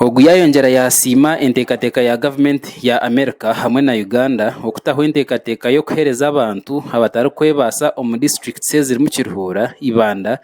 Ogu yaayongyera yaasiima enteekateeka ya gavumenti ya Amerika hamwe na Uganda okutaho enteekateeka y'okuheereza abantu abatarikwebaasa omu disiturikiti ezirimu Kiruhura, Ibanda,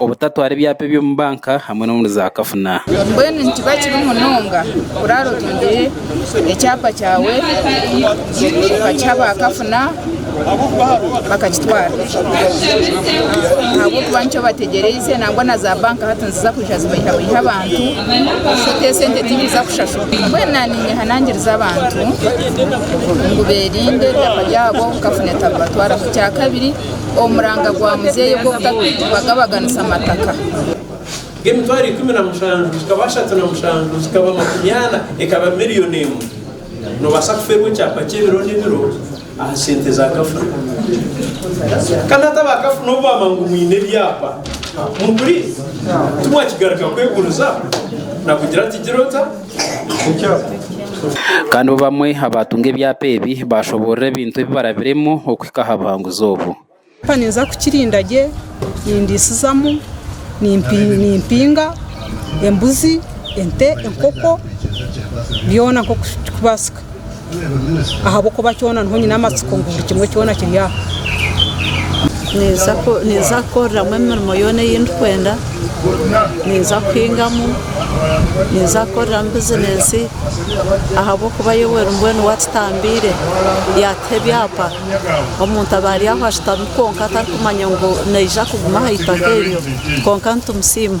Obutatwara ebyapa eby'omu banka hamwe n'omuri zaakafuna. Mbwenu nikiba kibi munonga kuraara otungire ekyapa kyawe okakiha baakafuna bakakitwara ahabw'okuba nikyo bategyereize nangwa na zaabanka hati niziza kwija zibeihabeihe abantu shote esente tiziija kushashurwa. Mbwenu naaninyeha nangirize abantu ngu beerinde ebyapa byabo kafuna etabibatwaraho. Kyakabiri omu muranga gwa muzeeyi ogw'okutabagabaganisa mataka. Ng'emitwaro ikumi na mushanju zikaba ashatu na mushanju zikaba makumi ana, ekaba milioni emwe. Noobaasa kufeerwa ekyapa ky'ebiro n'ebiro aha sente za kafuna. Kandi hati aba kafuna obu baaba ngu mwine ebyapa, muguriire? Timwakigaruka kweguriza? Nakugira ati, Gira ota? Kandi bo bamwe abaatunga ebyapa ebi baashoboorora ebintu ebi barabiremu okuhika aha buhanguzi obu. Ekyapa ninza kukirinda gye, nindiisizamu, nimpinga embuzi, ente, enkoko, byona nk'oku kiri kubaasika. ahabw'okuba kyona niho nyine amatsiko ngu buri kimwe kyona kiri aho. Ninza kukoreramu emirimo yoona ei ndikwenda, ninza kuhingamu, ninza kukoreramu bizineesi ahabw'okuba Yoweri mbwenu waatutambiire, yaatuha ebyapa. Omuntu aba ari aho ashutami kwonka atarikumanya ngu naija kuguma aha itaka eryo, kwonka nitumusiima.